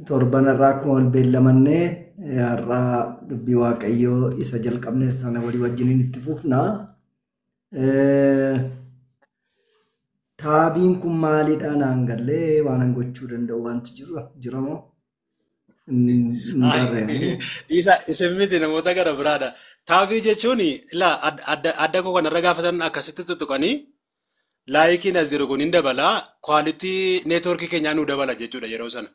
Torban har'aa akkuma wal beellamanne har'aa dubbii waaqayyoo isa jalqabne sana walii wajjiniin itti fufna. Taabiin kun maalidha naan gallee waan an gochuu danda'u wanti jiru jiramoo? Isa isin miti namoota gara biraadha. Taabii jechuun ilaa adda koo kanarra gaafatan akkasitti tuttuqanii laayikiin as jiru kun hin dabala kwaalitii neetworkii keenyaa nu dabala jechuudha yeroo sana.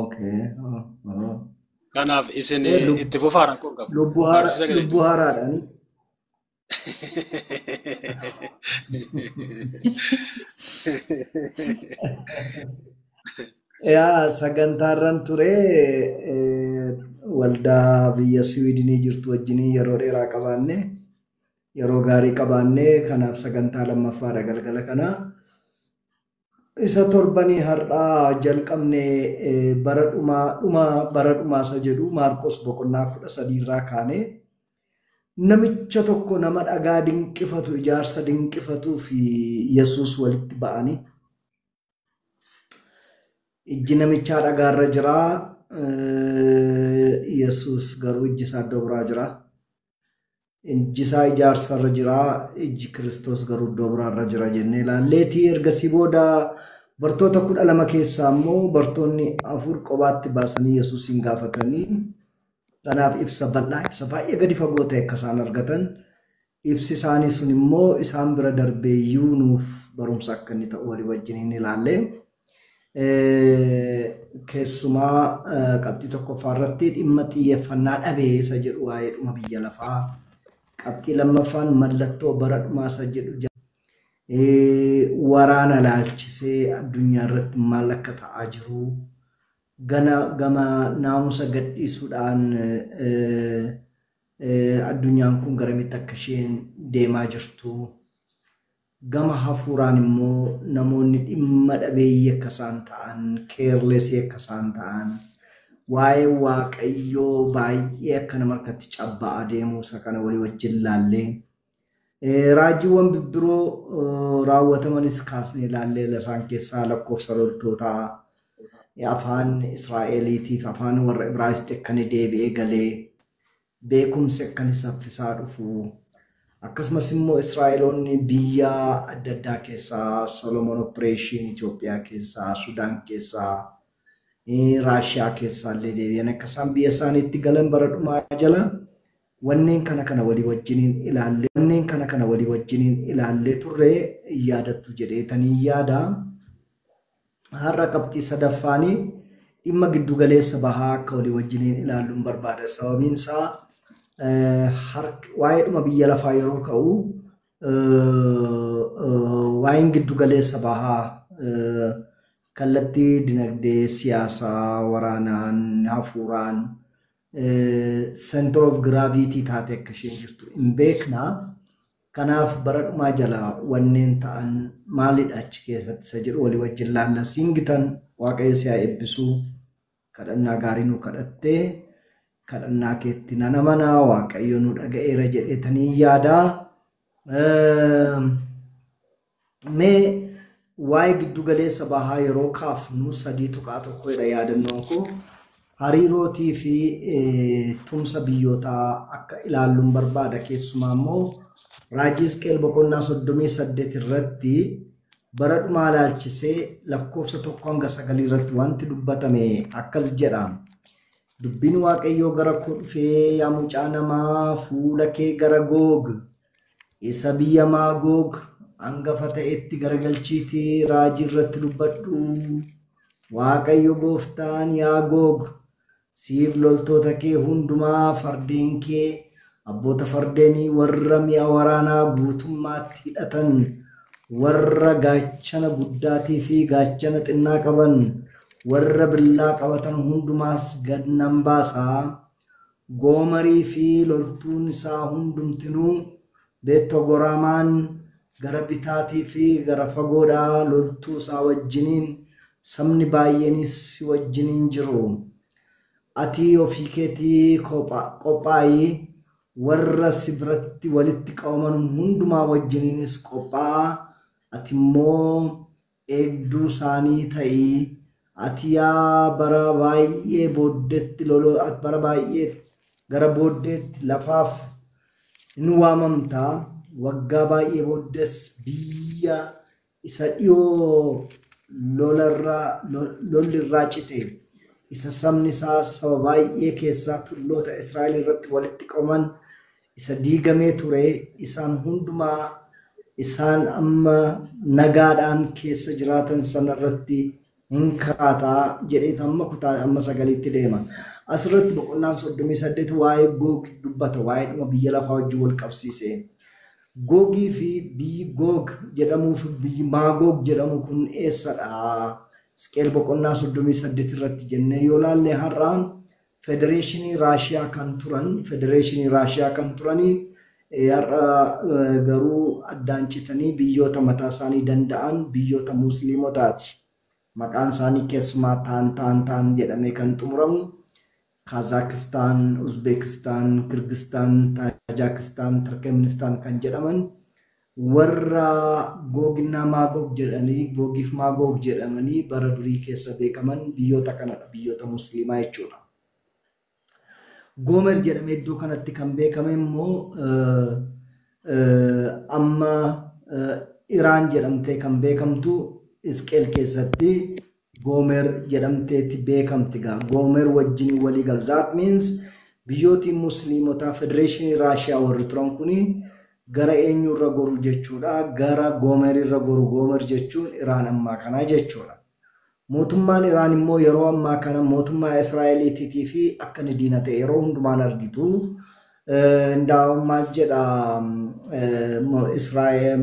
Okay. Ah, ah. Kanaaf isin Eh, lub- itti fufaa rakkoo hin qabu. Lubbu haara- Barsiisa gadi lubbu haaraadhaan. Yaa sagantaarran ture eh, waldaa biyya Siwiidinii jirtu wajjin yeroo dheeraa qabaanne Yeroo gaarii qabaanne kanaaf sagantaa lammaffaadha galgala kana. Isa torbanii har'aa jalqabne eh, bara dhumaa dhuma bara dhumaa isa jedhu Maarqos boqonnaa kudha sadii irraa kaane namicha tokko nama dhagaa dinqifatu ijaarsa dinqifatuu fi Yesuus walitti ba'anii ijji namichaa dhagaarra jira eh, Yesuus garuu ijji isaa iddoo biraa jira. Ijjisaa ijaarsa irra jira, ijji Kiristoos garuu iddoo biraa irra jira jennee ilaalleeti. Ergasii booda bartoota kudha lama keessaa immoo bartoonni afur qobaatti baasanii Yesuusiin gaafatanii kanaaf ibsa bal'aa, ibsa baay'ee gadi fagoo ta'e akka isaan argatan ibsi isaanii sun immoo isaan bira darbee iyyuu nuuf barumsa akka inni ta'u walii wajjin hin ilaalle. Keessumaa qabxii tokkoffaa irratti dhimma xiyyeeffannaa dhabee isa jedhu waa'ee dhuma biyya lafaa. Qabxii lammaffaan mallattoo bara dhumaa isa jedhu jira. Waraana laalchisee addunyaa irratti maal akka ta'aa jiru gana gama naamusa gadhiisuudhaan Addunyaan kun garamitti akka isheen deemaa jirtu, gama hafuuraan immoo namoonni dhimma dhabeeyyii akka isaan ta'an, keerlesii akka isaan ta'an, waa'ee Waaqayyoo baay'ee akka nama harkatti cabba'aa deemuu isa kana walii wajjin ilaallee Raajiiwwan bibbiroo raawwatamanis kaasnee ilaalleerra isaan keessaa lakkoofsa loltootaa, afaan Israa'eliitiif afaan warra Ibraayisxi akka inni deebi'ee galee, beekumsi akka inni saffisaa dhufu, akkasumas immoo Israa'eloonni biyya adda addaa keessaa Solomon Operation Itoophiyaa keessaa, Sudaan keessaa, Raashiyaa keessaa illee deebi'anii akka isaan biyya isaaniitti galan bara dhumaa jala Wanneen kana kana walii wajjiniin ilaallee wanneen kana kana walii wajjiniin ilaallee turre hin yaadattu jedheetanii yaada. Har'a qabxii sadaffaanii dhimma giddugaleessa bahaa akka walii wajjiniin ilaalluun barbaada. Sababiin isaa waa'ee dhuma biyya lafaa yeroo ka'u waa'een giddugaleessa bahaa kallattii dinagdee, siyaasaa, waraanaan, hafuuraan center of gravity taate akka isheen jirtu hin beekna. Kanaaf bara dhumaa jala wanneen ta'an maalidha achi keessatti isa jedhu walii wajjin laalla. Siingitan waaqayyo si haa eebbisu kadhannaa gaarii nu kadhattee kadhannaa keetti nan amanaa waaqayyo nu dhaga'eera jedheetanii yaadaa. Mee waa'ee giddu galeessa bahaa yeroo kaafnu 3.1 jedha yaadannoon koo hariirootii fi tumsa biyyootaa akka ilaalluun barbaada keessumaa immoo raajii Hisqeel boqonnaa 38 irratti bara dhumaa ilaalchisee lakkoofsa tokko hanga sagalii irratti wanti dubbatame akkas jedha. Dubbiin Waaqayyoo gara koo dhufee yaa mucaa namaa fuula kee gara Goog Isa biyya Maagoog angafa ta'etti garagalchiitii raajii irratti dubbadhu. Waaqayyo gooftaan yaa Goog, siif loltoota kee hundumaa, fardeen kee, abboota fardeenii warra mi'a waraanaa guutummaatti hidhatan, warra gaachana guddaatii fi gaachana xinnaa qaban, warra billaa qabatan hundumaas gad nan baasa. Goomarii fi loltuun isaa hundumtinuu Beet-Togoraamaan gara bitaatii fi gara fagoodhaa loltuu isaa wajjiniin, sabni baay'eenis si wajjiniin jiru. Ati ofii keetii qophaa'i, warra si biratti walitti qabaman hundumaa wajjiniinis qophaa'a, ati immoo eegduu saanii ta'ii ati yaa bara baay'ee booddeetti lolo bara baay'ee gara booddeetti lafaaf hin waamamta waggaa baay'ee booddees biyya isa dhiyoo lolarraa lo- lolli irraa cite isa sabni isaa saba baay'ee keessaa tulloota Israa'el irratti walitti qabaman isa diigamee ture isaan hundumaa isaan amma nagaadhaan keessa jiraatan sana irratti hin kaata jedheetu amma kutaa amma sagaliitti deema. Asirratti boqonnaan 38 waa'ee Goog dubbata waa'ee dhuma biyya lafaa wajjin wal qabsiisee. Googii fi biyyi Goog jedhamuu fi biyyi Maagoog jedhamu kun eessadha? Isqeel boqonnaa 38 irratti jennee yoo laalle har'a Federeeshinii Raashiyaa kan turan Federeeshinii Raashiyaa kan turanii har'a garuu addaan citanii biyyoota mataa isaanii danda'an biyyoota Musliimotaati. Maqaan isaanii keessumaa taan taan taan jedhamee kan xumuramu Kaazaakistaan, Uzbeekistaan, Kirgistaan, Taajaakistaan, Tirkeministaan kan jedhaman Warra Googinna Maagoog jedhanii, Googiif Maagoog jedhamanii bara durii keessa beekaman biyyoota kanadha, biyyoota Musliimaa jechuudha. Goomer jedhamee iddoo kanatti kan beekame immoo amma Iraan jedhamtee kan beekamtu Isqeel keessatti Goomer jedhamteeti beekamti egaa Goomer wajjin walii galu. That means biyyootiin Musliimotaa Federeeshinii Raashiyaa warri turan kuni gara eenyuurra goru jechuudha? Gara Goomerirra goru. Goomer jechuun Iraan ammaa kanaa jechuudha. Mootummaan Iraan immoo yeroo ammaa kana mootummaa Israa'eliitiitii fi akka inni diina ta'e yeroo hundumaan argitu. Indaa'u maal jedha Israa'el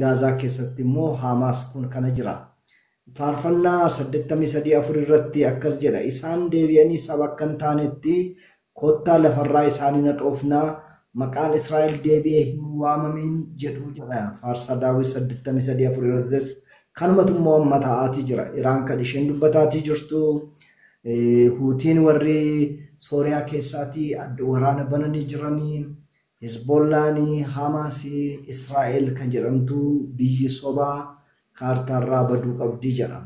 Gaazaa keessatti immoo Haamaas kun kana jira. Faarfannaa 83 4 irratti akkas jedha isaan deebi'anii saba akka hin taanetti kottaa lafarraa isaanii naxoofnaa maqaan Israa'el deebi'ee hin waamamiin jedhu jedha faarsaa daawwit 83 4 irrattis kanumatu immoo amma ta'aatii jira Iraan kan isheen dubbataatii jirtu huutiin warri Sooriyaa keessaatii waraana bananii jiranii Hezbollaan, Hamaas, Israa'el kan jedhamtu biyyi sobaa kaartaarraa baduu qabdi jedha.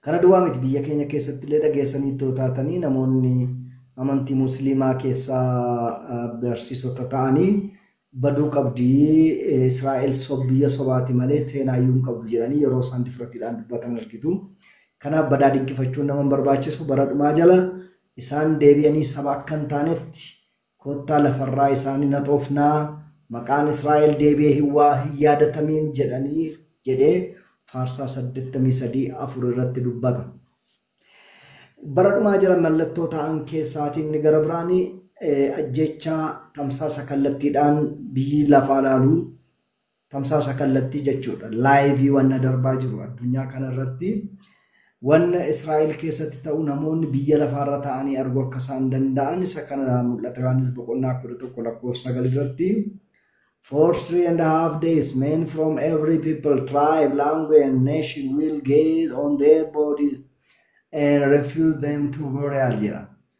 Kana duwwaa miti biyya keenya keessattillee dhageessaniittu yoo taatanii namoonni amantii musliimaa keessaa barsiisota ta'anii baduu qabdi Israa'el biyya sobaati malee seenaayyuu hin qabdu jedhanii yeroo isaan difratiidhaan dubbatan argitu. Kanaaf badaa dinqifachuun nama hin barbaachisu bara dhumaa jala Isaan deebi'anii saba akka hin taanetti, Kottaa lafa irraa isaan hin haxoofnaa, maqaan Israa'el deebi'ee hin waa hin yaadatamiin jedhanii jedhee Faarsaa 83 4 irratti dubbata. Bara dhumaa jira mallattoo ta'an keessaatii inni gara biraan ajjeechaa tamsaasa kallattiidhaan biyyi lafaa laaluu Tamsaasa kallattii jechuudha. Laayivii wanna darbaa jiru addunyaa kanarratti wanna Israa'el keessatti ta'u namoonni biyya lafaarra ta'anii arguu akka isaan danda'an isa kana mul'ata Yohaannis boqonnaa 11 lakkoofsa 9 irratti For three and a half days men from every people, tribe, language and nation will gaze on their bodies and refuse them to burial jedha.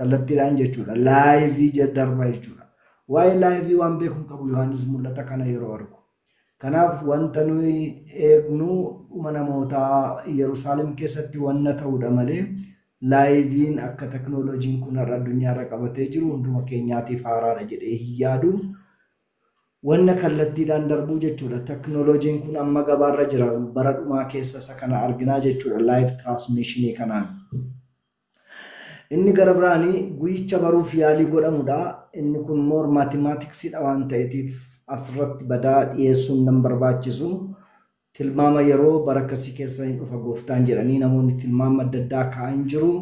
Kallattiidhaan jechuudha. Laayivii je- darba jechuudha. Waa'ee laayivii waan beeku hin qabu Yohaannis mul'ata kana yeroo argu. Kanaaf wanta nuyi eegnu dhuma namootaa Yerusaalem keessatti wanna ta'udha malee laayiviin akka teknooloojiin kun har'a addunyaarra qabatee jiru hunduma keenyaatiif haaraadha jedhee hin yaadu. Wanna kallattiidhaan darbuu jechuudha. Teknooloojiin kun amma gabaarra jira. Bara dhumaa keessa isa kana arginaa jechuudha. Laayiv tiraansmiishinii kanaan. Inni gara biraan guyyicha baruuf yaalii godhamu dha. Inni kun more mathematics dha waan ta'eetiif as irratti badaa dhiyeessuun nan barbaachisu. Tilmaama yeroo bara akkasii keessa hin dhufa gooftaan jedhanii namoonni tilmaama adda addaa kaa'an jiru.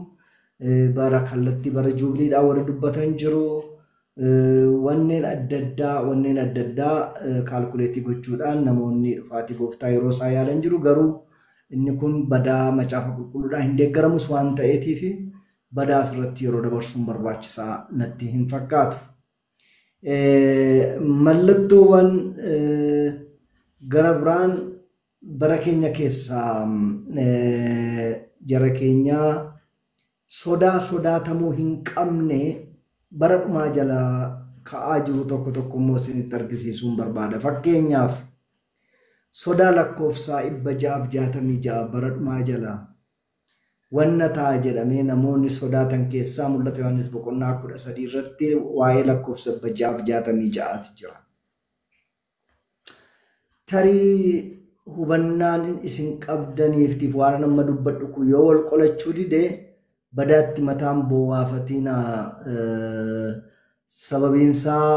Bara kallattii bara juubiliidhaa warri dubbatan jiru. Wanneen adda addaa wanneen adda addaa kaalkuleetii gochuudhaan namoonni dhufaatii gooftaa yeroo isaa yaalan jiru garuu inni kun badaa macaafa qulqulluudhaan hin deeggaramus waan ta'eetiif badaa asirratti yeroo dabarsuun barbaachisaa natti hin fakkaatu. Mallattoowwan gara biraan bara keenya keessaa jara keenyaa Sodaa sodaatamuu hin qabne bara dhumaa jala ka'aa jiru tokko tokko immoo isinitti argisiisuun barbaada. Fakkeenyaaf, sodaa lakkoofsaa 666 bara dhumaa jala wanna ta'a jedhamee namoonni sodaatan keessaa mul'ata Yohaannis boqonnaa 13 irratti waa'ee lakkoofsa 666 ti jira. Tarii hubannaan isin qabdaniiftiif waan amma dubbadhu kun yoo wal qolachuu dide badaatti mataan boowaafatiina sababiinsaa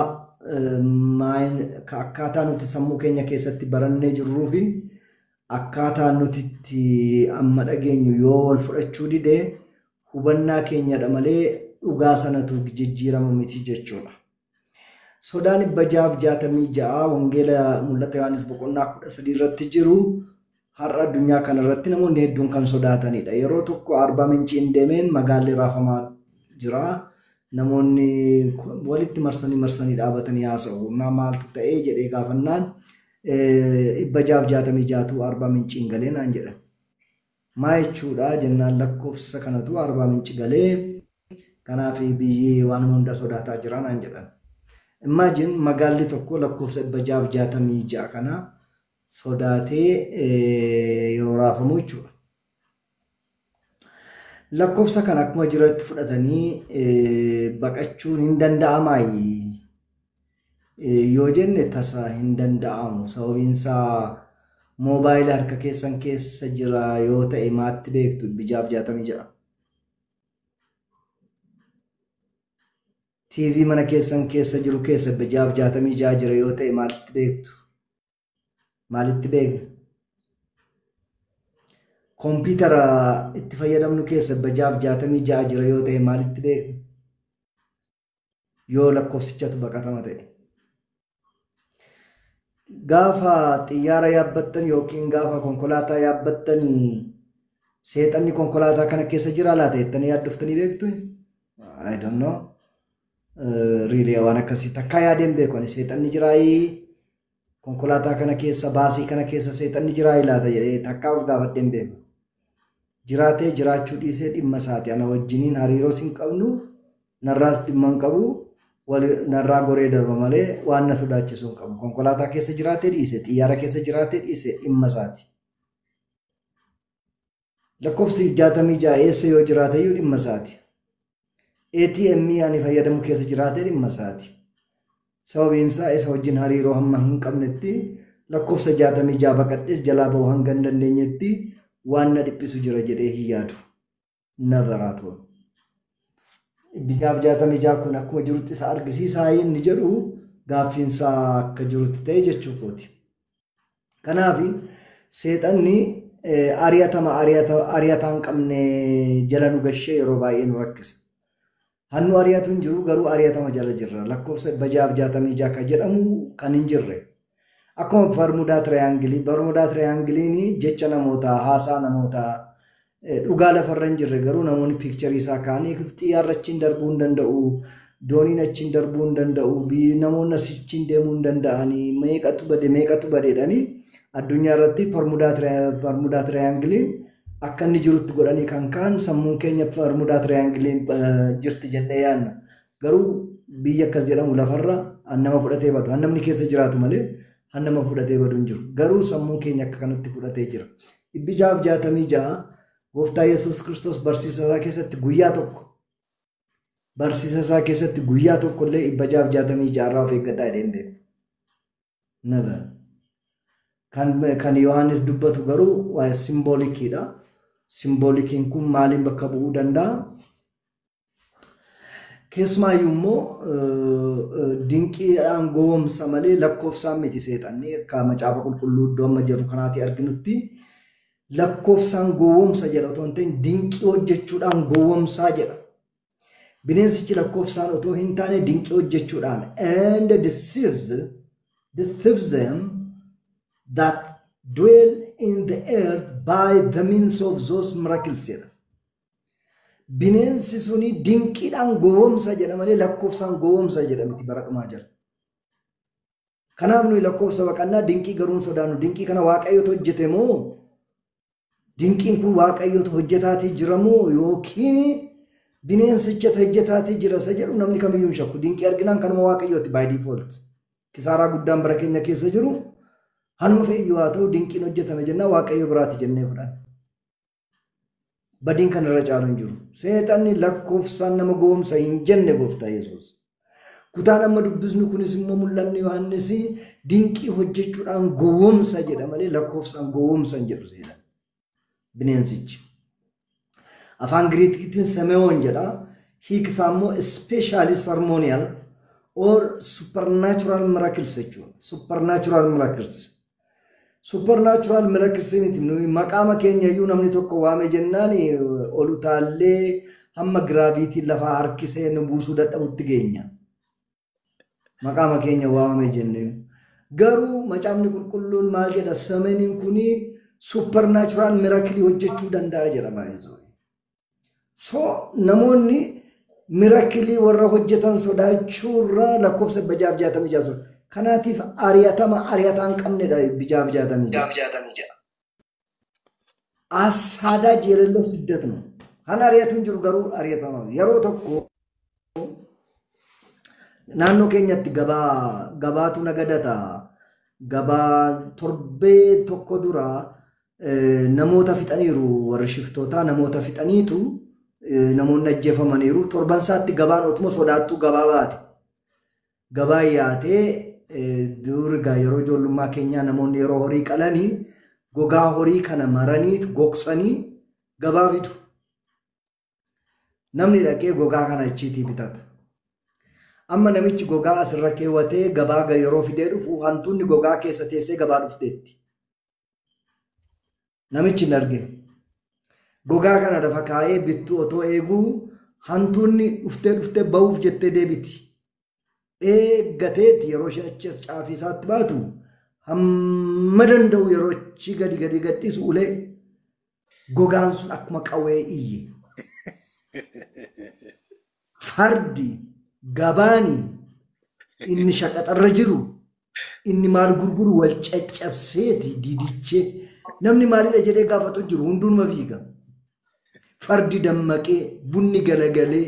akkaataa nuti sammuu keenya keessatti barannee jirruu fi akkaataa nuti itti amma dhageenyu yoo wal fudhachuu dide hubannaa keenyadha malee dhugaa sanatu jijjiirama miti jechuudha. Sodaa 666 Wangeela Mul'ata Yohaannis boqonnaa 13 irratti jiru har'a addunyaa kana irratti namoonni hedduun kan sodaatanidha. Yeroo tokko Arbaa Minciin deemeen magaalli raafamaa jira. Namoonni walitti marsanii marsanii dhaabatanii haasa'u. Naa maaltu ta'ee jedhee gaafannaan 666tu Arbaa Minciin galee naan jedhan. Maa jechuudhaa jennaan lakkofsa kanatu Arbaa Minci galee kanaaf biyyi waanuma hunda sodaataa jira naan jedhan. Imagine magaalli tokko lakkoofsa 666 kana sodaatee yeroo raafamu jechuudha. Lakkoofsa kana akkuma jirutti fudhatanii baqachuun hin danda'amaayi. yoo jenne tasa hin danda'amu. Sababiin isaa moobaayila harka keessan keessa jira yoo ta'e maatti beektu bijaaf jaatamii ja'a. TV mana keessan keessa jiru keessa bijaaf jaatamii ja'a jira yoo ta'e maalitti beektu? Maalitti beekna? Kompiitara itti fayyadamnu keessa bijaaf jaatamii ja'a jira yoo ta'e maalitti beekna? yoo lakkoofsichatu baqatama ta'e. Gaafa xiyyaara yaabbattan yookiin gaafa konkolaataa yaabbattan seexanni konkolaataa kana keessa jira laata jettanii yaaddoftanii beektu? I don't know. Riilee waan akkasii takkaa yaadeen beeku ani seexanni jiraayii Konkolaataa kana keessa baasii kana keessa seexanni jiraa ilaata jedhee takkaa of gaafadhee hin beeku. Jiraatee jiraachuu dhiisee dhimma isaati ana wajjiniin hariiroos hin qabnu narraas dhimma hin qabu narraa goree darba malee waan na sodaachisuu hin qabu. Konkolaataa keessa jiraatee dhiise xiyyaara keessa jiraatee dhiise dhimma isaati. Lakkoofsi 66 eessa yoo jiraate iyyuu dhimma isaati. ATM ani fayyadamu keessa jiraate dhimma isaati. Sababiin isaa isa wajjin hariiroo hamma hin qabnetti lakkoofsa 66 baqadhees jalaa ba'uu hanga hin dandeenyetti waan na dhiphisu jira jedhee hin yaadu. Navaraatoo. Biyyaaf 66 kun akkuma jirutti isa argisiisaa inni jedhu gaaffiin isaa akka jirutti ta'e jechuu kooti. Kanaaf seexanni ari'atama ari'ataa hin qabne jala nu gashee yeroo baay'ee nu rakkisa. Hannu ari'atu hin jiru garuu ari'atama jala jirra. Lakkoofsa dhibba jaaf jaatamii ja'a kan jedhamu kan hin jirre. Akkuma barmudaa tirayaangilii, barmudaa tirayaangiliin jecha namootaa, haasaa namootaa, Dhugaa lafarra hin jirre garuu namoonni piikcharii isaa kaanii xiyyaarri achiin darbuu hin danda'u. Dooniin achiin darbuu hin danda'u. Namoonni achiin deemuu hin danda'anii. Meeqatu bade meeqatu badeedhanii addunyaa irratti parmudaa tiraayangiliin akka inni jirutti godhanii kan kaan sammuun keenya parmudaa tiraayangiliin jirti jennee yaadna. Garuu biyya akkas jedhamu lafarra nama fudhatee badu. Namni keessa jiraatu malee nama fudhatee badu hin jiru. Garuu sammuun keenya akka kanatti fudhatee jira. Dhibbi ja'aaf jaatamii ja'a gooftaa Yesuus Kiristoos barsiisa isaa keessatti guyyaa tokko barsiisa isaa keessatti guyyaa tokko illee dhibba ja'aaf jaatamii ja'a irraa of eeggadhaa jedhee hin beeku. Never. Kan, kan Yohaannis dubbatu garuu waa'ee simboolikiidha. Simboolikiin kun maaliin bakka bu'uu danda'a? Keessumaayyuu immoo dinqiidhaan gowwoomsa malee lakkoofsaan miti seexanni akka macaafa qulqulluu iddoo amma jirru kanaatti arginutti lakkoofsaan gowwoomsa jedha otoo hin ta'in dinqii hojjechuudhaan gowwoomsaa jedha. Bineensichi lakkoofsaan otoo hin taane dinqii hojjechuudhaan and deceives deceives them that dwell in the earth by the means of those miracles jedha. Bineensi suni dinqiidhaan gowwomsa jedha malee lakkoofsaan gowwomsa jedha miti bara dhumaa jala. Kanaaf nuyi lakkoofsa baqannaa dinqii garuu hin sodaannu. Dinqii kana waaqayyotu hojjete moo dinqiin kun waaqayyotu hojjetaatii jira moo yookiin bineensichatu hojjetaatii jira isa jedhu namni kamiyyuu hin shakku. Dinqii arginaan kanuma waaqayyooti by default. Kisaaraa guddaan bara keenya keessa jiru hanuma fe'iyyuu haa ta'u dinqiin hojjetame jennaa waaqayyo biraati jennee fudhanna. Badiin kan irra caalu hin jiru. Seexanni lakkoofsaan nama gowwomsa hin jenne gooftaa Yesuus. Kutaan amma dubbisnu kunis immoo mul'anni Yohaannis dinqii hojjechuudhaan gowwomsa jedha malee lakkoofsaan gowwomsa hin jedhu seexan. Bineensichi. Afaan Giriikiitiin Semewoon jedha. Hiiksaa immoo ispeeshaalii sarmooniyal or supernatural miracles jechuudha. Supernatural miracles. Suppernaatural miracles miti nuyi maqaama keenya iyyuu namni tokko waame jennaan ol utaallee hamma giraaviitiin lafaa harkisee nu buusuu dadhabutti geenya. Maqaama keenya waamame jennee. Garuu macaafni qulqulluun maal jedha samaniin kuni suppernaatural miracle hojjechuu danda'a jedha baay'ee. So namoonni mirakilii warra hojjetan sodaachuurra lakkoofsa bijaaf jaatamii ja'a sun. Kanaatiif ari'atama ari'ataa hin qabnedha bijaaf jaatamii ja'a. Bijaaf jaatamii ja'a. Asaadaa jeelelloo siddat nu. Kan ari'atu hin jiru garuu ari'atama yeroo tokko. Naannoo keenyatti gabaa gabaatu nagadata. Gabaa torbee tokko dura eh, namoota fixaniiru warri shiftootaa namoota fixaniitu eh, namoonni ajjeefamaniiru. Torban isaatti gabaan otuma sodaattuu gabaa baate. Gabaa yaatee eh, dur egaa yeroo ijoollummaa keenyaa namoonni yeroo horii qalanii gogaa horii kana maranii gogsanii gabaa fidu. Namni dhaqee gogaa kana achiitii bitata. Amma namichi gogaa asirra keewwatee gabaa ga- yeroo fidee dhufu hantuunni gogaa keessa teessee gabaa dhufteetti. Namichi hin argine. Gogaa kana lafa kaa'ee bittuu otoo eeguu hantuunni dhuftee dhuftee ba'uuf jettee deebiti. eeggateeti yeroo ishee achi as caafii isaatti baatu hamma danda'u yeroo achi gadi gadi gadhiisu ulee gogaan sun akkuma qawwee iyye. Fardi gabaani inni shaqaxarra jiru inni maal gurguru wal caccabseeti didichee namni maalidha jedhee gaafatu jiru hunduunuma fiiga. Fardi dammaqee bunni galagalee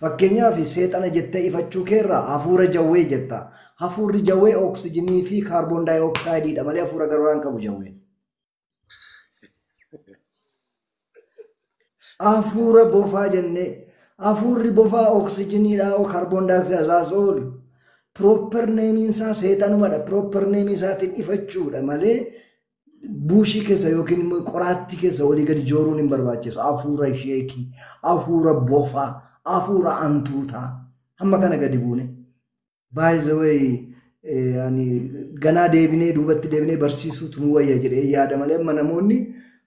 Fakkeenyaaf seexana jettee ifachuu keerraa hafuura jawwee jetta. Hafuurri jawwee oksijinii fi kaarboon daayooksaayididha malee hafuura garaa hin qabu jawween. Hafuura bofaa jennee hafuurri bofaa oksijiniidha oo kaarboon daayooksaayid azaas oolu. Proper neemiin isaa seexanumadha. Proper neemii isaatiin ifachuudha malee buushii keessa yookiin immoo qoraattii keessa olii gadi jooruun hin barbaachisu. Hafuura sheekii, hafuura bofaa, hafuura antuutaa. Hamma kana gadi buune. By the way, eh, ani ganaa deebinee duubatti deebinee barsiisuutu nu wayya jedhee yaada malee amma namoonni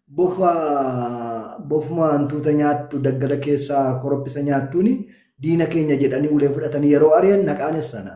bofa bofuma hantuuta nyaattu daggala keessaa korophisa nyaattuuni diina keenya jedhanii ulee fudhatanii yeroo ari'an naqaanes sana.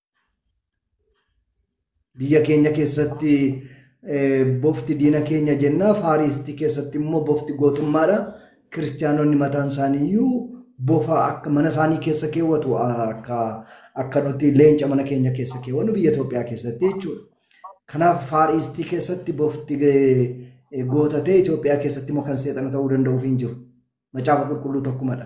Biyya keenya keessatti bofti diina keenya jennaa faariistii keessatti immoo bofti gootummaadha. Kiristiyaanonni mataan isaanii iyyuu bofa akka mana isaanii keessa keewwatu akka akka nuti leenca mana keenya keessa keewwannu biyya Itoophiyaa keessatti jechuudha. Kanaaf faariistii keessatti bofti gootatee Itoophiyaa keessatti immoo kan seexana ta'uu danda'uuf hin jiru. Macaafa qulqulluu tokkumadha.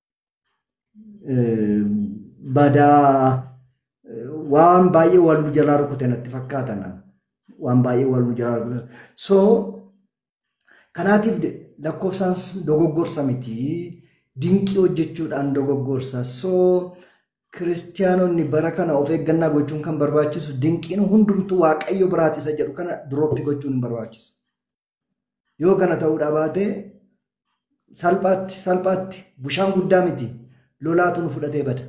badaa waan baay'ee wal nu jalaa rukute natti fakkaata nan waan baay'ee wal nu jalaa rukute so kanaatiif lakkoofsaan dogoggorsa miti dinqii hojjechuudhaan dogoggorsa so kiristiyaanonni bara kana of eeggannaa gochuun kan barbaachisu dinqiin hundumtuu waaqayyo biraati isa jedhu kana dirooppii gochuun hin barbaachisa. Yoo kana ta'uudhaa baate salphaatti salphaatti bushaan guddaa miti lolaatu nu fudhatee bada.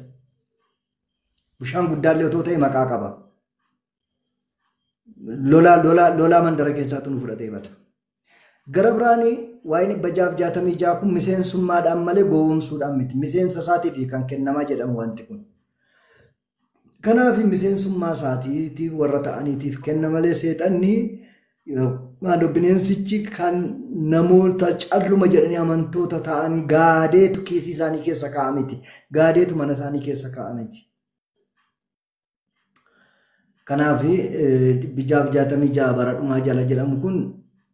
Bushaan guddaallee otoo ta'e maqaa qaba. Lolaa lolaa lolaa mandara keessaatu nu fudhatee bada. Gara biraan waa'een dhibba jaaf jaatamii ja'a kun miseensummaadhaan malee gowwoomsuudhaan miti. Miseensa isaatiif kan kennamaa jedhamu wanti kun. Kanaafi miseensummaa isaatiitii warra ta'aniitiif kenna malee seexanni maadoo bineensichi kan namoota calluma jedhanii amantoota ta'anii gaadeetu kiisii isaanii keessa kaa'a miti. Gaadeetu mana isaanii keessa kaa'a miti. Kanaaf dhibbi jaaf jaatamii ja'a bara dhumaa jala jedhamu kun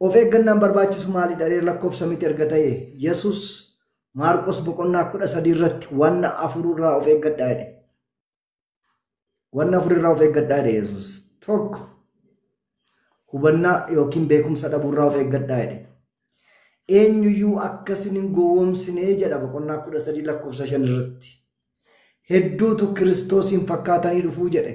Of eeggannaan barbaachisu maalidha ree lakkoofsa miti erga ta'e Yesus Maarqos boqonnaa kudha sadii irratti wanna afururraa of eeggadhaa jedhe. Wanna afurirraa of eeggadhaa jedhe Yesus. Tokko hubannaa yookiin beekumsa dhabuurraa of eeggadhaa jedhe. Eenyuyyuu akka isin hin gowwoomsinee jedha boqonnaa kudha sadii lakkoofsa shan irratti. Hedduutu Kiristoosiin fakkaatanii dhufuu jedhe.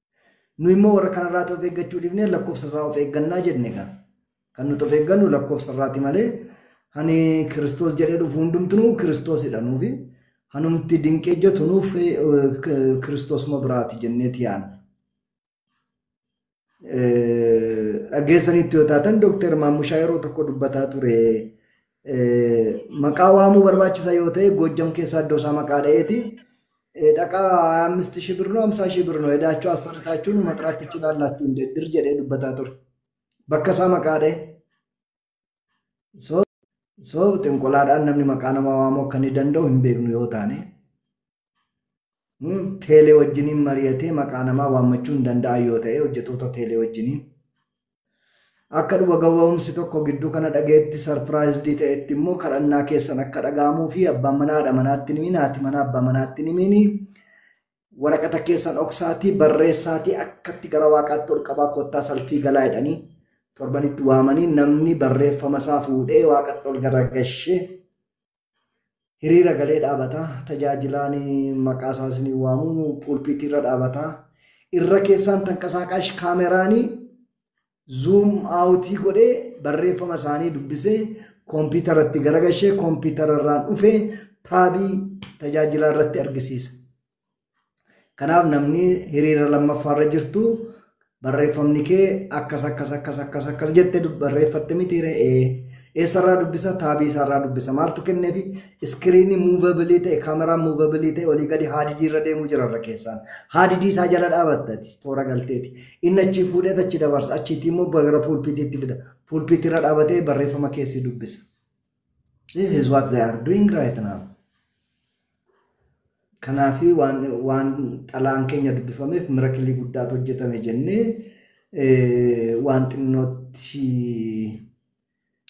Nu immoo warra kanarraati of eeggachuu dhibnee lakkoofsa irraa of eeggannaa jenne egaa. Kan nuti of eeggannu lakkoofsa irraati malee hani Kiristoos jedhee dhufu hundumtuu Kiristoosidha nuufi. Hanumti dinqee hojjetu nuuf Kiristoosuma biraati jenneeti yaadna. Dhageessanitti yoo taatan Dooktar Maammushaa yeroo tokko dubbataa ture. Maqaa waamuu barbaachisa yoo ta'e Goojjam keessaa iddoo isaa maqaa dha'eeti. Dhaqaa ammisti shii birnoo amsaa shii birnoo edaachuu asirritaachuun maxiraattichi laallaattuu hin deddir jedhee dubbataa ture. Bakka isaa maqaa dha'e. So xinqulaadhaan namni maqaa namaa waamuu akka inni danda'u hin beeknu yoo taane Teelee wajjiniin mari'atee maqaa namaa waammachuu hin danda'an yoo ta'e hojjetoota teelee wajjiniin akka dhuga gaba'umsi tokko gidduu kana dhaga'etti sarpiraayizdii ta'etti immoo kadhannaa keessan akka dhaga'amuu fi abbaan manaa haadha manaatti nimiin haati manaa abbaa manaatti nimiin waraqata keessan oksaatii barreessaatii akkatti gara waaqaatti ol qabaa kottaa salfii galaa jedhanii torbanitti waamanii namni barreeffama isaa fuudhee waaqatti ol garagashee Hiriira galee dhaabata. Tajaajilaan maqaa isaa isinii waamu pulpiitii irra dhaabata. Irra keessaan tanqasaaqaash kaameraanii zuum aawutii godhee barreeffama isaanii dubbisee kompiitaratti garagashee kompiitara irraan dhufee taabii tajaajilaa irratti argisiisa. Kanaaf namni hiriira lammaffaa irra jirtu barreeffamni kee akkas akkas akkas akkas akkas jettee dub- barreeffatte miti re'ee eessarraa dubbisa taabii isaarraa dubbisa maaltu kenneefi iskiriinii muuvabilii ta'e kaameraan muuvabilii ta'e olii gadi haadidii irra deemuu jira irra keessaan haadidii isaa jala dhaabattati toora galteeti inni achii fuudhee achi dabarsa achiitii immoo gara puulpiitiitti fida puulpiitii irra dhaabatee barreeffama keessi dubbisa This is what they are doing right now. Kanaafi waan, waan xalaan keenya dubbifameef mirakilii guddaatu hojjetame jennee eh, waan xinnootti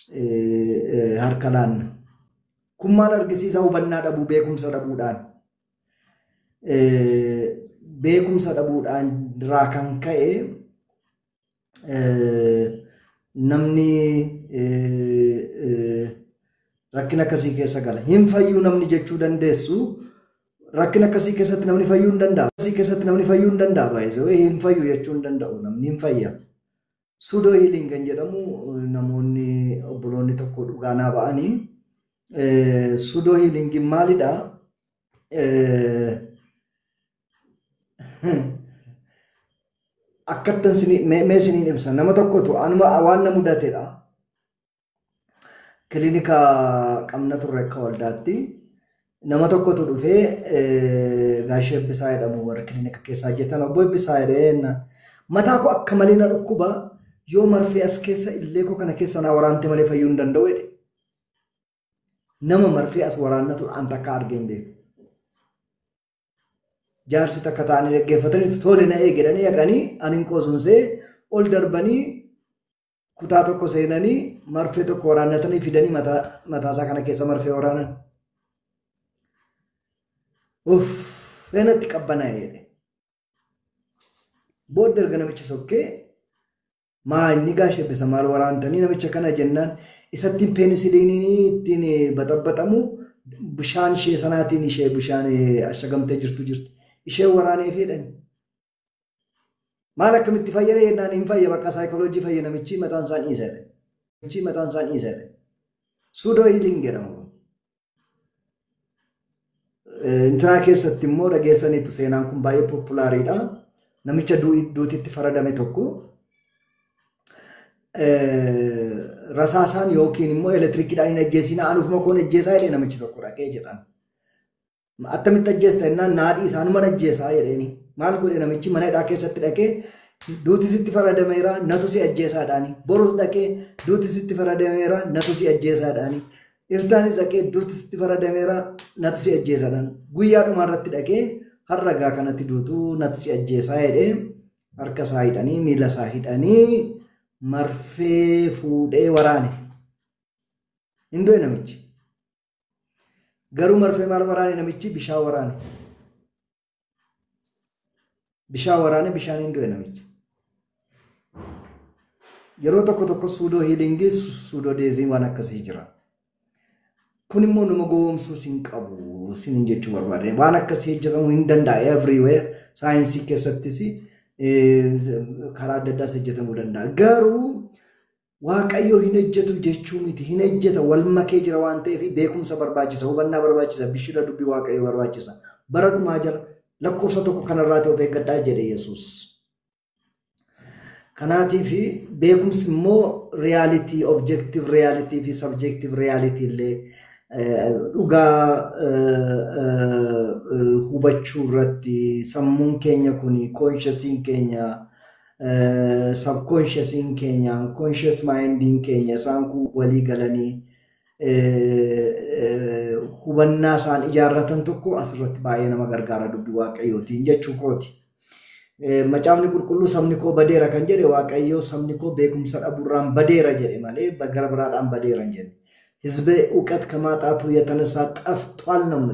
eh, eh, harka laanna. Kun maal argisiisa hubannaa dhabuu beekumsa dhabuudhaan. Eh, beekumsa dhabuudhaan irraa kan ka'e namni rakkina akkasii keessa gala. Hin fayyuu namni jechuu dandeessu rakkina akkasii keessatti namni fayyuu hin danda'amu. Akkasii keessatti namni fayyuu hin danda'amu. Baay'isoo hin fayyu jechuu hin danda'u namni hin fayya. Suudoo hiiliin kan jedhamu namoonni obboloonni tokko dhugaa naa ba'anii suudoo hiiliingiin maalidhaa? Akkattan sinii- mee mee siniin ibsa nama tokkotu anuma waan na mudatedha. Kilinika qabna turre akka waldaatti nama tokkotu dhufee eh, gaashee Ebbisaa jedhamu warri kilinika keessa hojjetan obbo Ebbisaa jedheen mataa koo akka malee na dhukkuba yoo marfee as keessa illee koo kana keessa naa waraante malee fayyuu hin danda'u jedhe. Nama marfee as waraannatu an takka argee hin beeku. jaarsi takka ta'anii dhaggeeffataniitu tole na eegedhanii dhaqanii anin qosuunsee ol darbanii kutaa tokko seenanii marfee tokko waraannatanii fidanii mataasaa kana keessa marfee waraanan. Uff, feenatti qabbanaa'ee. Booda erga namichi sokkee Maa inni Gaash Eebbisa maal waraantanii namicha kana jennaan isattiin peenisiliiniin ittiin baxabaxamu bishaan ishee sanaatiin ishee bishaan ashagamtee jirtu jirti. Ishee waraanee fiidhan. Maal akkamitti fayyada jennaan hin fayya bakka saayikooloojii fayya namichi mataan isaan dhiiseera. Namichi mataan isaan dhiiseera. Suudoo hiiliin jedhama. Intiraa keessatti immoo dhageessaniitu seenaan kun baay'ee poopulaariidha. Namicha duutitti faradame tokko rasaasaan yookiin immoo elektirikiidhaan hin ajjeesiin anufuma koon ajjeesaa jedhee namichi tokko dhaqee jedhan. Attamitti ajjeesta jennaan naadhii isaanuman ajjeesaa jedheeni. Maal godhe namichi mana hidhaa keessatti dhaqee duuti sitti faradameera natu si ajjeesaadhaani. Borus dhaqee duuti sitti faradameera natu si ajjeesaadhaani. Iltaani zaqee duuti sitti faradameera natu si ajjeesadhaan guyyaa dhumaa irratti dhaqee har'a gaa kanatti duutu natu si ajjeesaa jedhee harka isaa hidhanii miila isaa hidhanii marfee fuudhee waraane. Hin du'e namichi. Garuu marfee maal waraane namichi bishaan waraane. Bishaan waraanee bishaaniin du'e namichi. Yeroo tokko tokko suudoo hiilingii suudoo deezii waan akkasii jira. Kun immoo nama gowwoomsuu sin qabu sin jechuu barbaade. Waan akkasii hojjetamuu hin danda'a everywhere saayinsii keessattis karaa adda addaas hojjetamuu danda'a. Garuu Waaqayyo hin hojjetu jechuu miti. Hin hojjeta wal makee jira waan ta'eef beekumsa barbaachisa, hubannaa barbaachisa, bishira dubbii Waaqayyo barbaachisa. Bara dhumaa jala lakkoofsa tokko kanarraati of eeggadhaa jedhe Yesuus. Kanaatiif beekumsi immoo riyaalitii, objektiiv riyaalitii fi sabjektiiv riyaalitii illee dhugaa hubachuu irratti sammuun keenya kun koonshasiin keenya sabkoonshasiin keenya koonshas maayindiin keenya isaan kun walii galanii hubannaa isaan ijaarratan tokko asirratti baay'ee nama gargaara dubbii waaqayyootiin jechuu kooti. Macaafni qulqulluu sabni koo badeera kan jedhe waaqayyoo sabni koo beekumsa dhabuurraan badeera jedhe malee gara biraadhaan badeera hin jedhe. Hizbe uqat kamaaxaatu yatanasa xafxwaal namni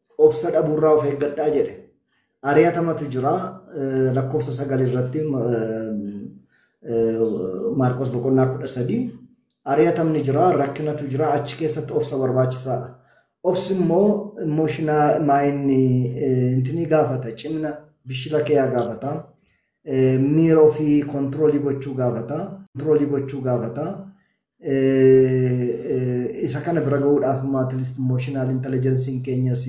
Obsa dhabuurraa of eeggadhaa jedhe. Ari'atamatu jira lakkoofsa sagal irratti Maarqos boqonnaa kudha sadii. Ari'atamni jira rakkinatu jira achi keessatti obsa barbaachisaadha. Obsi immoo emooshinaa maayinni intinii gaafata cimna bishila keeyaa gaafata. Miira ofii kontiroolii gochuu gaafata. Kontiroolii gochuu gaafata. Isa kana bira gahuudhaaf immoo at least emotional intelligence keenyas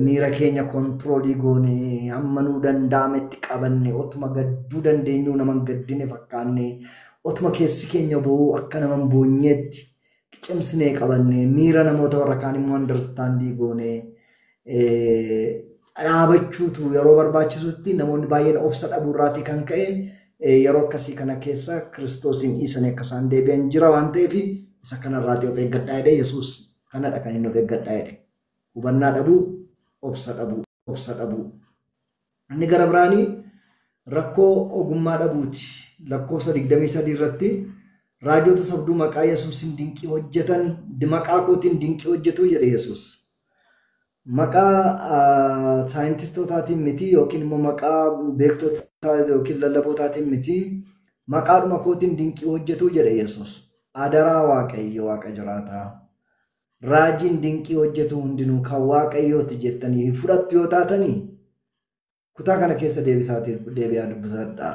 miira keenya kontiroolii goonee hamma nuu danda'ametti qabanne otuma gadduu dandeenyuu nama hin gaddine fakkaanne otuma keessi keenya bo'uu akka nama hin boonyeetti cimsinee qabanne miira namoota warra kaan immoo andarstaandii goonee dhaabachuutu yeroo barbaachisutti namoonni baay'een obsa dhabuu irraatii kan ka'e yeroo akkasii kana keessa kiristoosiin dhiisanii akka isaan deebi'an jira waan ta'eef isa kana irraatii of eeggadhaa jedhee yesuus kanadha kan inni of eeggadhaa jedhe hubannaa dhabuu obsa dhabuu obsa dhabuu Inni gara biraani rakkoo ogummaa dhabuuti. Lakkoofsa 23 irratti raajota sobduu maqaa Yesuusin dinqii hojjetan maqaa kootiin dinqii hojjetu jedhe Yesuus. Maqaa saayintistootaatiin miti yookiin immoo maqaa beektota yookiin lallabootaatiin miti maqaadhuma kootiin dinqii hojjetu jedhe Yesuus. Adaraa Waaqayyo Waaqa jiraataa. raajiin dinqii hojjetu hundinuu kan Waaqayyoo ti jettanii hin fudhattu yoo taatanii kutaa kana keessa deebisaatii deebi'aa dubbifadhaa.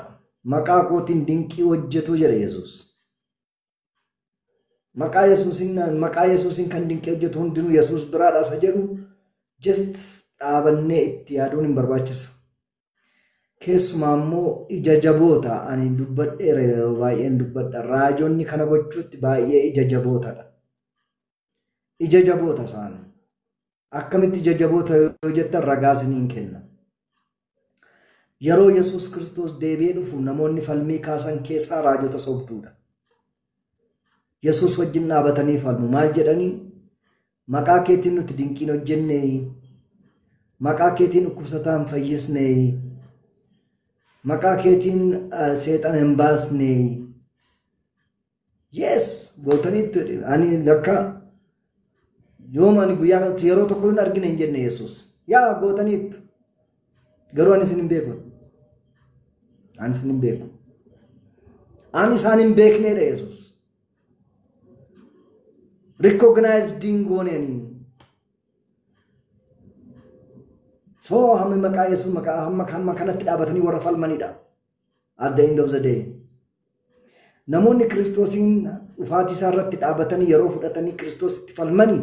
Maqaa kootiin dinqii hojjetuu jedha Yesuus. Maqaa Yesuusin maqaa Yesuusin kan dinqii hojjetu hundinuu Yesuus biraadha isa jedhu just dhaabannee itti yaaduun hin barbaachisa. Keessumaa immoo ija jaboota ani dubbadheera yeroo baay'een dubbadha. Raajonni kana gochuutti baay'ee ija jabootadha. Ija jaboota isaan. Akkamitti ija jaboota yoo jettan ragaa isiniin kenna. Yeroo Yesuus Kiristoos deebi'ee dhufu namoonni falmii kaasan keessaa raajota sobduudha. Yesuus wajjin dhaabatanii falmu. Maal jedhanii? Maqaa keetiin nuti dinqiin hojjenneeyi. Maqaa keetiin dhukkubsataan fayyisneeyi. Maqaa keetiin seexan hin baasneeyi. Yes! Gootaniittu ani lakka Yooma ani guyyaa kanatti yeroo tokko hin argine hin jenne Yesuus. Yaa gootaniittu. Garuu ani isin hin beeku. Ani isin hin beeku. Ani isaan hin beekneedha Yesuus. Recognized hin goone ani. Soo hammi maqaa Yesuus maqaa hamma hamma kanatti dhaabatanii warra falmanidha. At the end of the day. Namoonni Kiristoosiin dhufaatii isaa irratti dhaabatanii yeroo fudhatanii Kiristoos itti falmanii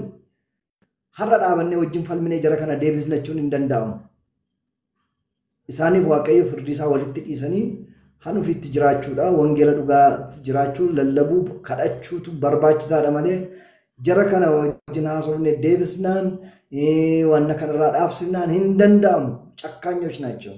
har'a dhaabannee wajjin falminee jara kana deebisna jechuun hin danda'amu. Isaaniif Waaqayyo firdii isaa walitti dhiisanii han ofiitti jiraachuudha. Wangeela dhugaa jiraachuu, lallabuu, kadhachuutu barbaachisaadha malee jara kana wajjin haasofne deebisnaan eh, wanna kanarraa dhaabsifnaan hin danda'amu. Cakkaanyoch naachoo.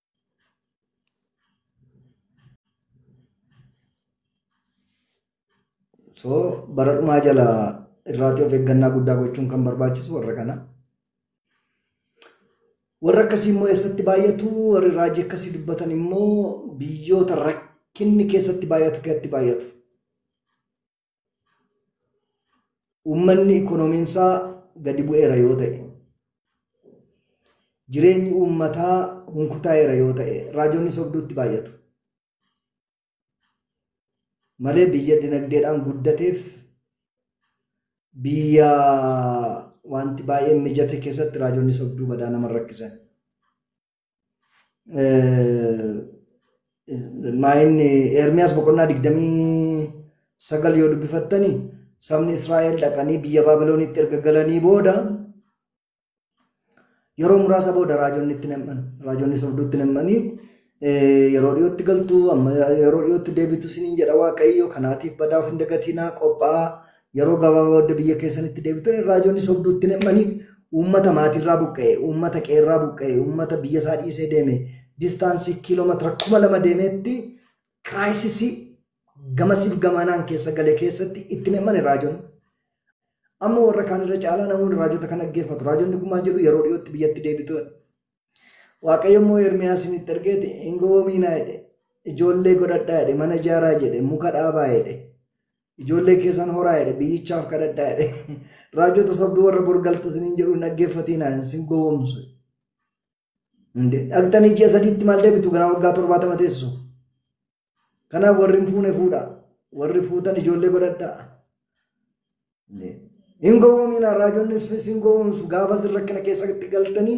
so bara dhumaa jala irraati of eeggannaa guddaa gochuun kan barbaachisu warra kana. Warra akkasii immoo eessatti baay'atu warri raajii akkasii dubbatan immoo biyyoota rakkinni keessatti baay'atu keessatti baay'atu. Uummanni ikoonomiinsaa gadi bu'eera yoo ta'e, jireenyi uummataa hunkutaa'eera yoo ta'e raajonni sobduutti baay'atu. Malee biyya dinagdeedhaan guddateef biyya wanti baay'een mijate keessatti raajonni sobduu badaa nama rakkisan. Maayin Ermiyaas boqonnaa digdamii sagal yoo dubbifattani sabni Israa'el dhaqanii biyya Baabiloonitti erga galanii booda yeroo muraasa booda raajonni itti nam'an raajonni sobduu itti nam'anii yeroo dhiyootti galtu amma yeroo dhiyootti deebitu siniin jedha waaqayyo kanaatiif badaaf hin dagatinaa qophaa'aa Yeroo gabaabaa booda biyya keessanitti deebitan raajonni sobduu itti nemmanii uummata maatiirraa buqqa'e, uummata qeerraa buqqa'e, uummata biyya isaa dhiisee deeme, distaansii kiiloomeetira kuma lama deemeetti kiraayisisii gamasiif gamaanaan keessa gale keessatti itti nemmani raajonni. Amma warra kaan irra caalaa namoonni raajota kan dhaggeeffatu. Raajonni kun maal jedhu yeroo dhiyootti biyyatti deebitu. Waaqayyo immoo Ermiyaasiin itti ergeeti hin gowwomiinaa jedhe. Ijoollee godhadhaa jedhe mana ijaaraa jedhe muka dhaabaa jedhe. Ijoollee keessan horaa jedhe biyyichaaf kadhadhaa jedhe. Raajota sobduu warra borgaltu isiniin jedhu hin dhaggeeffatiinaa isin gowwomsu. Dhaqxanii ji'a sadiitti maal deebitu ganaa waggaa torbaatama teessu. Kanaaf warri hin fuune fuudha. Warri fuutan ijoollee godhadha. Hin gowwoomina raajonni isin gowwoomsu gaafa isin rakkina keessatti galtanii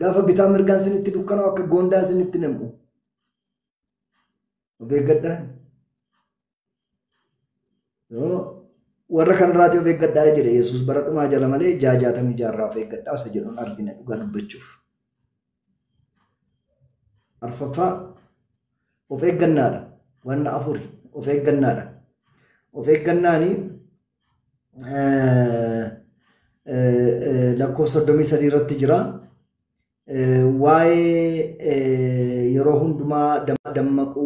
gaafa bitaa mirgaan isinitti dukkanaa akka goondaa isinitti nam'u. Of eeggadhaa. Yoo warra kanarraati of eeggadhaa jedhe Yesuus bara dhumaa jala malee jaajaatamii jaarraa of eeggadhaa isa jedhuun argina dhugaa dubbachuuf. Arfaffaa of eeggannaadha. Wanna afuri of eeggannaadha. Of eeggannaani lakkoofsa soddomii sadii irratti jira. Waa'ee yeroo hundumaa dammaquu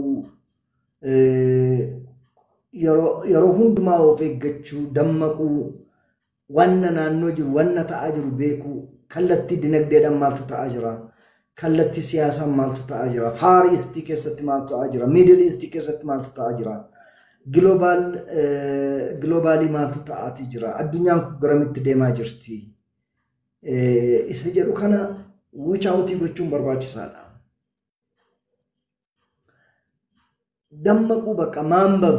yeroo hundumaa of eeggachuu dammaquu Wanna naannoo jiru, wanna ta'aa jiru beekuu, kallattii dinagdeedhaan maaltu ta'aa jira, kallattii siyaasaan maaltu ta'aa jira, Faar Iistii keessatti maaltu ta'aa jira, Miidil Iistii keessatti maaltu ta'aa jira, Giloobaal giloobaalii maaltu ta'aatii jira, addunyaan kun garamitti deemaa jirti. Eh, Isa jedhu kana wuchaawutii gochuun barbaachisaadha. Dammaquu bakka maanbab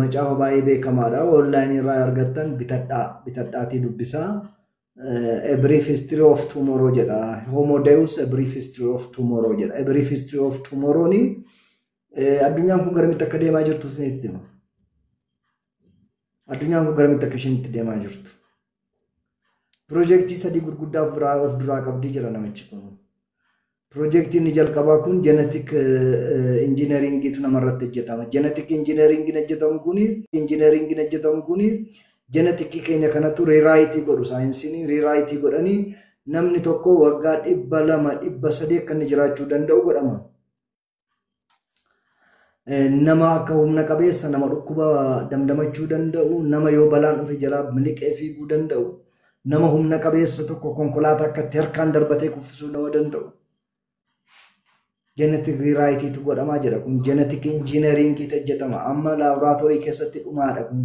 Macaafa baay'ee beekamaadha. Online irraa argattan bitadhaa. Bitadhaatii dubbisaa. Eh, A Brief History of Tomorrow jedha. Homo Deus A Brief History of Tomorrow jedha. A Brief History of Tomorrow ni eh, addunyaan kun garamitti akka deemaa jirtu isinitti hima. Addunyaan kun garamitti akka isheen itti deemaa jirtu. Piroojeektii sadii gurguddaa of biraa of duraa qabdii jira namichi kun. Piroojeektiin inni jalqabaa kun jenetik injiineriingiitu namarratti hojjetama. Jenetik injiineriingiin hojjetamu kun injiineriingiin hojjetamu kun jenetikii keenya kanatu riiraayitii godhu saayinsiin riiraayitii godhanii namni tokko waggaa dhibba lama dhibba sadii akka inni jiraachuu danda'u godhama. Nama akka humna qabeessa, nama dhukkuba damdamachuu danda'u, nama yoo balaan dhufe jalaa miliqee fiiguu danda'u, nama humna qabeessa tokko konkolaataa akkatti harkaan darbatee kuffisuu nama danda'u. Jenetik riiraayitiitu godhamaa jira kun jenetik injiineriingiitu hojjetama amma laaboraatoorii keessatti dhumaadha kun.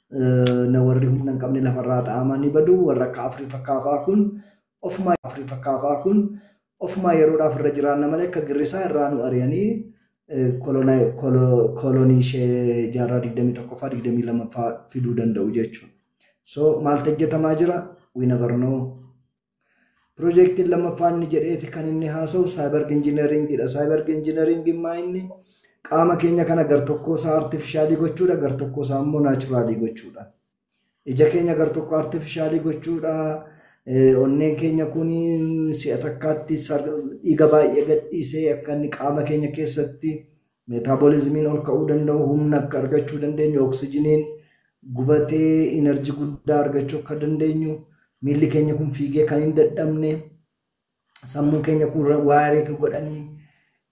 na warri humna hin qabne lafarraa ta'amaa ni badu warra akka afurii fakkaafaa kun ofumaa afurii fakkaafaa kun ofumaa yeroodhaaf irra jiraanna malee akka girrisaa irraa nu ari'anii kolonii ishee jaarraa 21ffaa 22ffaa fiduu danda'u jechuudha. So maaltu hojjetamaa jira? We never know. Piroojeektiin lammaffaa inni jedheeti kan inni haasa'u saayibarg injiineriingiidha. Saayibarg injiineriingiin maa inni qaama keenya kana gartokkoo isaa artifishaalii gochuudha, gartokkoo isaa immoo naachuraalii gochuudha. Ija keenya gartokko artifishaalii gochuudha. Onneen keenya kun si'a takkaatti dhiiga baay'ee gadhiisee akka inni qaama keenya keessatti Meetaaboliizimiin ol ka'uu danda'u humna akka argachuu dandeenyu, oksijiniin gubatee inarjii guddaa argachuu akka dandeenyu, miilli keenya kun fiigee kan hin dadhabne, sammuun keenya kun waareeka godhanii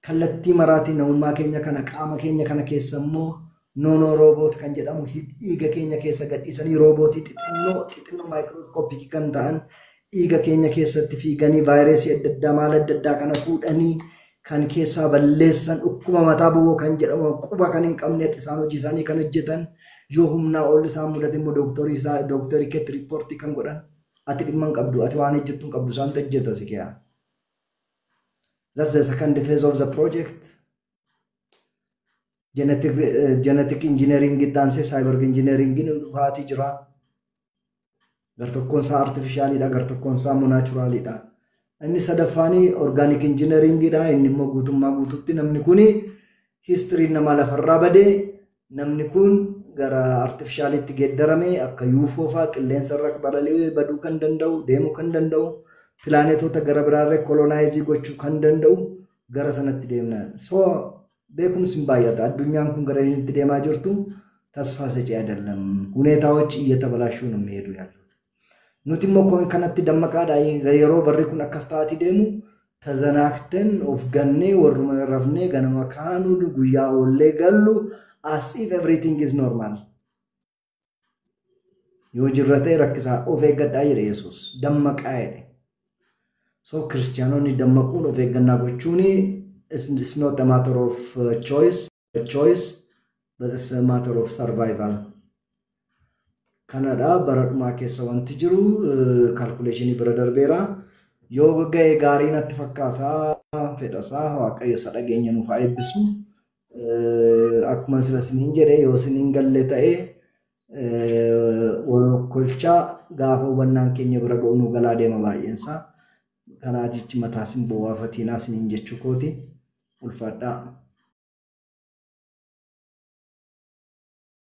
kallattii maraatiin namummaa keenya kana qaama keenya kana keessa immoo noonoo rooboot kan jedhamu dhiiga keenya keessa gadhiisanii roobootii xixinnoo xixinnoo maayikirooskoopikii kan ta'an dhiiga keenya keessatti fiiganii vaayireesii adda addaa maal adda addaa kana fuudhanii kan keessaa balleessan dhukkuba mataa boboo kan jedhamu quba kan hin qabnetti isaan hojii isaanii kan hojjetan yoo humnaa ol isaan mudate immoo dooktorii isaa dooktorii keetti riippoortii kan godhan ati dhimma hin qabdu ati waan hojjettu hin qabdu isaan hojjeta si keeyaa. That's the second phase of the project. Genetic, uh, genetic engineering itti aansee cyber engineering dhufaatii jira. Gartokkoon isaa artifishaaliidha, gartokkoon isaa immoo naachuraaliidha. Inni sadaffaan orgaanik injinariingiidha. Inni immoo guutummaa guututti namni kun histiriin namaa lafarraa badee namni kun gara artifishaaliitti geeddarame akka yuufoo fa'aa qilleensarra balali'ee baduu kan danda'u, deemuu kan danda'u, pilaanetoota gara biraarra koloonaayizii gochuu kan danda'u gara sanatti deemna. So Beekumsi hin baay'ata. Addunyaan kun gara inni itti deemaa jirtu tasfaa sacii adallam. Huneetaawochi iyya tabalaashuu namni heeduu yaalluuta. Nuti immoo koon kanatti dammaqaadha yeroo barri kun akkas ta'aati deemu tazanaakten of gannee warruma rafnee ganama kaanuu guyyaa oollee gallu as if everything is normal. Yoo jirra ta'e rakkisaa of eeggadhaa jedhe Yesuus. Dammaqaa jedhe. So kiristiyaanonni dammaquun of eeggannaa gochuun it's not a matter of uh, choice, a choice but it's a matter of survival. Kanadha bara dhumaa keessa wanti jiru kalkuleeshinii bira darbeera. Yoo ga'e gaarii natti fakkaata fedhasaa waaqayyo isa dhageenya nuuf haa eebbisu. Akkuma sila isiniin jedhe yoo isiniin galle ta'e kolchaa gaafa hubannaan keenya bira ga'u nu galaa deema baay'eensaa. Kanaa jechi mataa isin bu'aafatiinaa isiniin jechuu kooti. Ulfaadhaa.